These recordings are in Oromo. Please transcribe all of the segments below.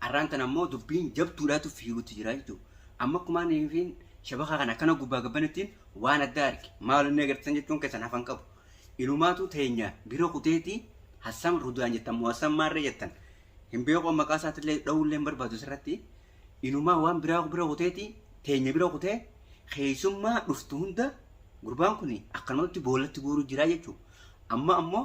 Arraan tana ammoo dubbiin jabduudhaatu fiigutti jira jechuudha. Amma akkuma ani fiin shabakaa kana akkana gubbaa gabbanittiin waan addaa arge maal inni agartan jechuun keessan hafan qabu. Inumaatu teenya bira kuteeti Hassam Rudaan jettan moo Hassam Maarree jettan hin beeku maqaa isaatillee dha'uullee hin barbaadu asirratti. Inumaa waan biraa bira kuteeti teenya bira kutee keessummaa dhuftu hunda gurbaan kun akkanumatti boolatti guuruu jira jechuudha. Amma ammoo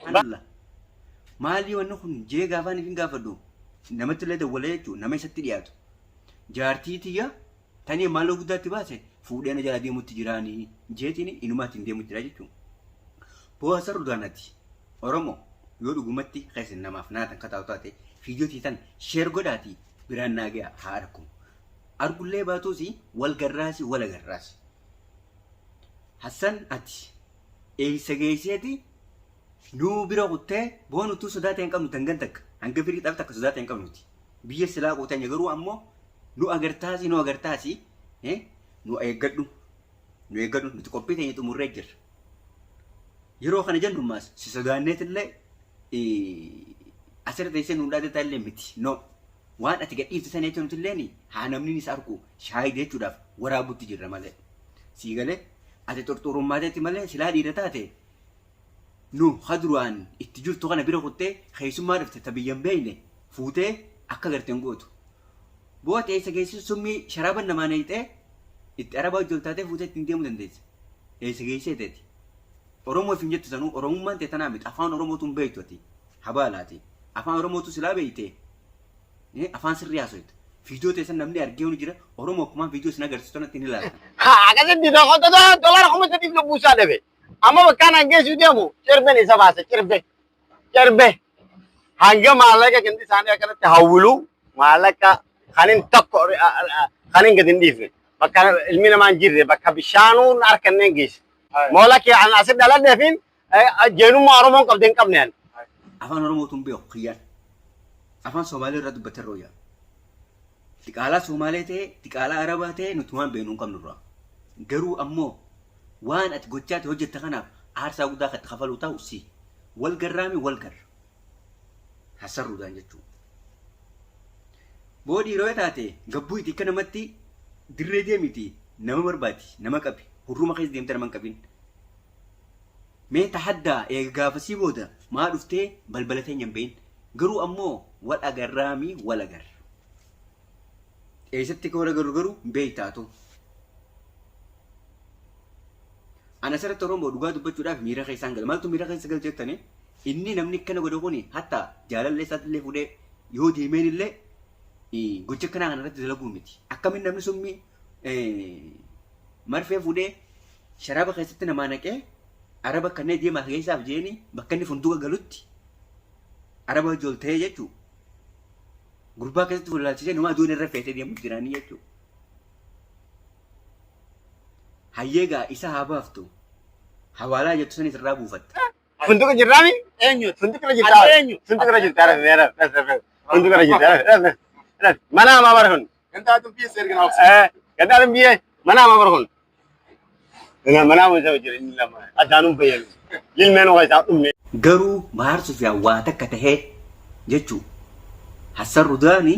Subhanallah. Maalii wanni kun jee gaafaan ifin gaafadhu namatti illee dawwalee jechuun nama isatti dhiyaatu. Jaartii tiyya tanii maaloo guddaatti baase fuudhee na jala deemutti jiraanii jeetiin inumaatti hin deemu jira jechuun. Poosa Rudaanati Oromoo yoo dhugumatti keessan namaaf naatan kataa'u taate fiidiyoo tiitan sheer godhaatii biraan naa ga'a haa argu. Argullee baatuusi wal garraasi wal agarraasi. Hassan ati Eessa geesseeti nu bira kuttee boonu utuu sodaa ta'e hin qabnu dangan takka hanga firii xaf takka sodaa ta'e hin qabnuti biyya silaa qootanya garuu ammoo nu agartaasi nu agartaasi nu eeggadhu nu eeggadhu nuti qophii teenya xumurree jirra yeroo kana jennu maas si sodaanneetillee asirra teessee nu dhaadetaa illee miti no waan ati gadhiifte sana jechuun nuti illee haa namni isa arku shaayide jechuudhaaf waraabutti jirra malee sii galee Ati xurxuurummaa teeti malee silaa dhiira taate nu ha duraan itti jirtu kana bira kuttee keessummaa dhufte ta biyya hin beekne fuutee akka garte hin gootu. Boote eessa geessu summii sharaaban namaa neeyxee itti arabaa hojjol taatee fuutee ittiin deemuu dandeessa. Eessa geessee teeti. Oromoo ifiin jettu sanuu Oromummaan tee tanaa miti afaan Oromootu hin beektu ati. Habaalaati. Afaan Oromootu silaa beektee. Eh, afaan sirrii haasoyte. Viidiyoo teessan namni argee huni jira. Oromoo kumaan viidiyoo isin agarsiistu tanatti hin ilaalan. Ha, akkasitti na qottata dolara kuma sadiif lubbuu isaa dhabe. Amma bakkaan hangeessuu deemu cirben isa baase cirbe. Cirbe. Hanga maallaqa gandi isaanii akkanatti hawwilu maallaqa kan hin tokko kan hin gadi hin dhiifne. Bakka ilmi namaa hin jirre bakka bishaanuun harka hin geesse. Moola kee an asi dhaladheefin Jeenummaa Oromoon qabdee hin qabne ani. Afaan Oromoo tun beeku kiyyaan. Afaan Somaalee irraa dubbate irra wayyaa. Diqaalaa Somaalee ta'e, diqaalaa Arabaa ta'e nuti waan beeknu hin qabnu irraa. Garuu ammoo waan ati gochaa ta'e hojjetta kanaaf aarsaa guddaa kan itti kafaluu ta'u si. Wal garraami wal garra. Hassarruudhaan jechuudha. Boodii yeroo taate gabbuu itti akka namatti dirree deemiti nama barbaadi nama qabi hurruma keessa deemte nama hin qabin. Mee tahaddaa eega gaafasii booda maa dhuftee balbala teenya hin bahin garuu ammoo wal agarraami wal agarra eessatti akka wal agarru garuu hin beekta atu ana asirratti oromoo dhugaa dubbachuudhaaf miira keessaan gala maaltu miira keessa gal jettanii inni namni akkana godhe kuni hatta jaalallee isaatti illee fudhee yoo deemeen illee gocha akkanaa kana irratti dalaguu miti akkamiin namni summii marfee fuudhee sharaaba keessatti namaa naqee araba kannee deemaa keessaa jeeni bakka inni funduuqa galutti araba hojii ol ta'ee jechuu gurbaa keessatti fuullaalchisee numaa duun irra feetee deemuu jiraanii jechuu hayyeegaa isa haa baaftu hawaalaa jettu sanis irraa buufatta. Funduuqa jirraami? Eenyuutu? Funduuqa irra jirtaa? Ati eenyu? Funduuqa irra jirtaa? Funduuqa irra jirtaa? Mana hamaa bara kun. Gandaatin biyyee seergan haafsi. Eh, gandaatin biyyee manaa ma barhun. Manaa manaa ma jaba jira inni lama addaanun bayyanu. Lilmeen waa isaa dhumne. Garuu Mahaar Sufiyaan waa takka tahee jechuu Hassan Rudaani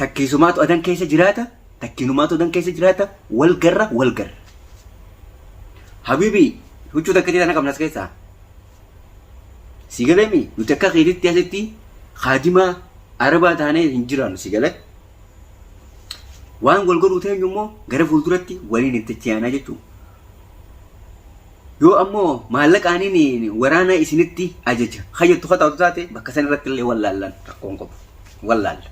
takkiisumaatu adan keessa jiraata takkiinumaatu adan keessa jiraata wal garra wal garra. Habibi huccuu takkitii tana qabnas keessaa Si galemii nuti akka keetitti asitti kaadimaa arabaa taanee hin jiraannu si galee. Waan wal godhuu teenyu immoo gara fuulduratti waliin itti ce'anaa jechuun. Yoo ammoo maallaqaaniin waraana isinitti ajaja hayyattu kataatu taate bakka san irratti illee wallaallaan rakkoon qabu wallaalla.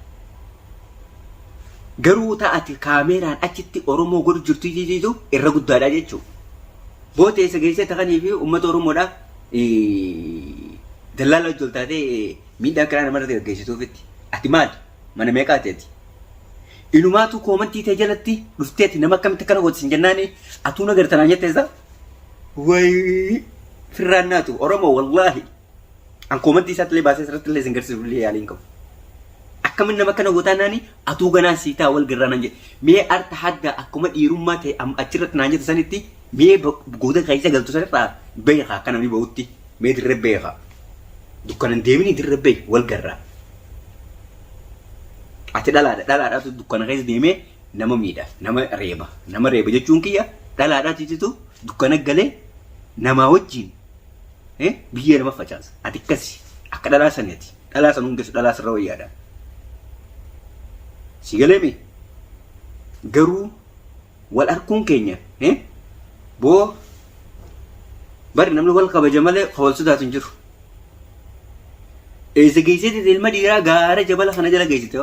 Garuu ta ati kaameeraan achitti Oromoo godhu jirtu ijijitu irra guddaadha jechuu. Booti eessa geessee takanii fi uummata Oromoodha dallaala wajji ol taatee miidhaa kiraa namarratti gaggeessituufitti. Ati maali? Mana meeqaati ati? Inumaatu koomantii tee jalatti dhuftee ati nama akkamitti akkana gooti sin jennaani atuu na gartanaan jetteessa. Wayi firraan naatu Oromoo wallaahi. An koomantii isaatti illee baasee asirratti illee isin garsiisuuf illee yaaliin qabu. Akkamiin nama kana gootaa naani atuu ganaan sii ta'a wal garraa naan jedhe. Mee arta hadda akkuma dhiirummaa ta'e am- achirratti naan jette sanitti mee ba- gooda keessa galtu sanirraa beekaa akka namni ba'utti mee dirree beekaa. Dukkanan deemini dirree beeki wal garraa. Ati dhalaadha dhalaadhaatu dukkana keessa deemee nama miidha nama reeba nama reeba jechuun kiyya dhalaadhaatitu dukkana galee namaa wajjin biyyee nama facaasa ati akkasi akka dhalaa sani ati dhalaa san hundeessu dhalaa sirra wayyaadha si galeemi garuu wal arkuun keenya boo bari namni wal kabaja malee wal sodaatu hin jiru eessa geessite ilma dhiiraa gaara jabala kana jala geessite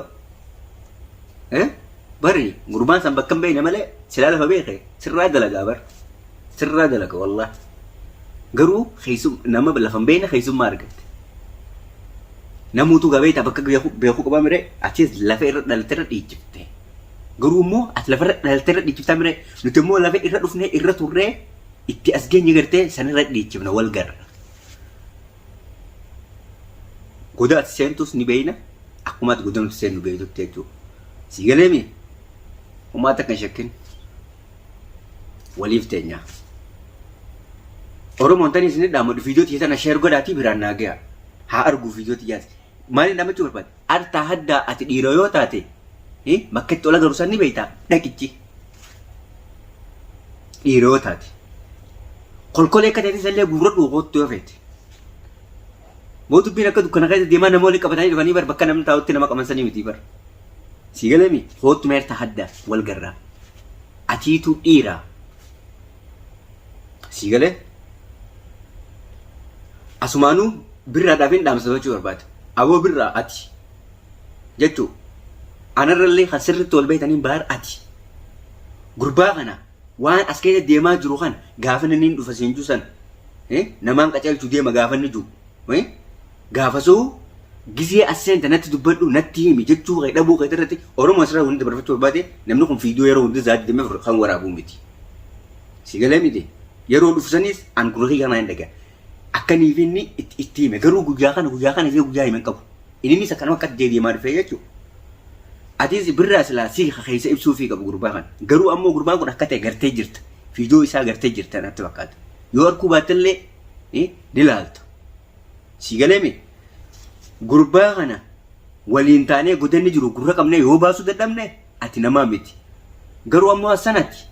bari gurbaan san bakka hin beekne malee silaa lafa beeke sirraa dalagaa bara Sirraa dalaga wallahi. Garuu keessum nama lafa hin beekne keessummaa argatte. Namuutu gaa beektaa bakka beeku- beekuu qabaa mire atis lafa irra dhalte irra dhiichifte. Garuu immoo ati lafa irra dhalte irra dhiichiftaa mire nuti immoo lafa irra dhufnee irra turree itti as geenye gartee san irra dhiichifna wal garra. Goda ati seentus ni beeyna akkuma ati goda nuti seennu beeytutti jechuudha. Sii galeemi? Homaa takka hin shakkin. waliif teenya. Oromoon tanii isin dhaamu viidiyoo tiyya tana sheer godhaatii biraan naa gayaa. Haa arguu viidiyoo tiyyaati. Maaliin dhaamachuu barbaade? Artaa haddaa ati dhiiroo yoo taate bakka itti ol agaru san ni beektaa dhaqichi. Dhiiroo yoo taate. Kolkolee akka ta'etti isallee guurradhu koottu yoo feete. Moo dubbiin akka dukkana keessa deemaa nama waliin qabatanii dhufanii bar bakka namni taa'utti nama qaban sanii miti bar. Sii galee miti koottu meerta haddaa wal garraa. Atiituu dhiira sii galee asumaanuu birraadhaaf hin dhaamsa gochuu barbaada. Aboo birraa ati jechuu anarrallee kan sirriitti wal beektaniin baar ati gurbaa kana waan as keessa deemaa jiru kan gaafanni niin dhufa siin juu san namaan qaceelchu deema gaafanni juu Gaafasuu gizee as seente natti dubbadhu natti himi jechuu kee dhabuu keeti irrati oromo asirra wani dabarfachuu barbaade namni kun video yeroo hunda sa'ati 24 kan waraabu miti si galee miti yeroo dhufu sanis an gurra kiyya kanaan dhaga akkanii fi inni itti hime garuu guyyaa kana guyyaa kana jee guyyaa himen qabu inninis akkanuma akkatti deebi'emaa dhufee jechuu atiis birraa silaa si keessa ibsuu fi qabu gurbaa kana garuu ammoo gurbaan kun akka ta'e gartee jirta video isaa gartee jirta natti fakkaata yoo arkuu baattallee ni laalta Sii galee mi? Gurbaa kana waliin taanee godanni jiru gurra qabnee yoo baasuu dadhabne ati namaa miti. Garuu ammoo Hassan ati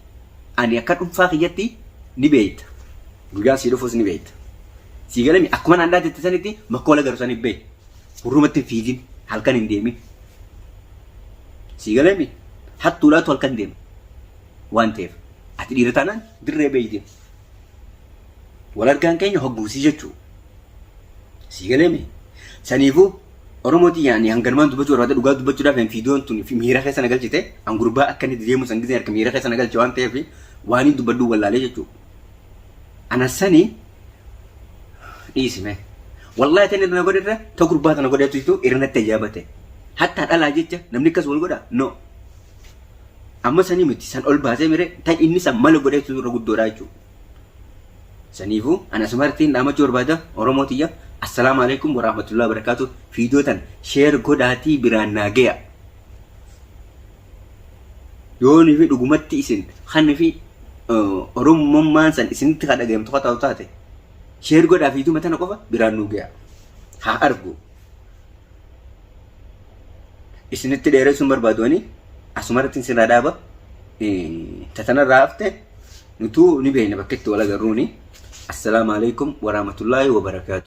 ani akka dhuunfaa kiyyatti ni beeyta. Guyyaan sii dhufus ni beeyta. Sii galee mi? Akkuma naan dhaadette sanitti makkoola garu saniif bahi. Gurrumatti hin fiigin. Halkan hin deemin. Sii galee mi? Hattuudhaatu halkan deema. Waan ta'eef ati dhiira taanaan dirree beeyte. Wal argaan keenya hogguu sii jechuu. Sii galee mee? Saniifuu Oromoo tiyya ani hanganumaan dubbachuu barbaada dhugaa dubbachuudhaaf hin fiidoon tun fi miira keessa na galchite an gurbaa akka inni deemu san gisee harka miira keessa na galche waan ta'eef waan hin dubbadhu wallaalee jechuu. Ana sani dhiisi mee. Wallaahi ta'in irra na godhe irra ta gurbaa tana godheetu jitu irra natti ajaa'ibate. Hattaa dhalaa jecha namni akkas wal godha no. Amma sanii miti san ol baasee mire ta inni san mala godheetu irra guddoodha jechuudha. Saniifu an asumartiin dhaamachuu barbaada Oromoo tiyya Assalaamu Aleykum Warahmatullahi Wabarakaatu Fiidiyoo tan share godhaatii biraan naa geya Yoonifi dhugumatti isin kanifi Oromummaan san isinitti ka dhagayamtu ka taatu taate share godhaa fiiduma tana qofa biraan nuu geya haa argu isinitti dheeressuun barbaadu ani asumarrattiin sirraa dhaaba tatanarraa hafte Nutuu ni beeyna bakka itti wal agarruuni. Assalaamu Aleykum Waraamatullaahi Wabarakaatuh.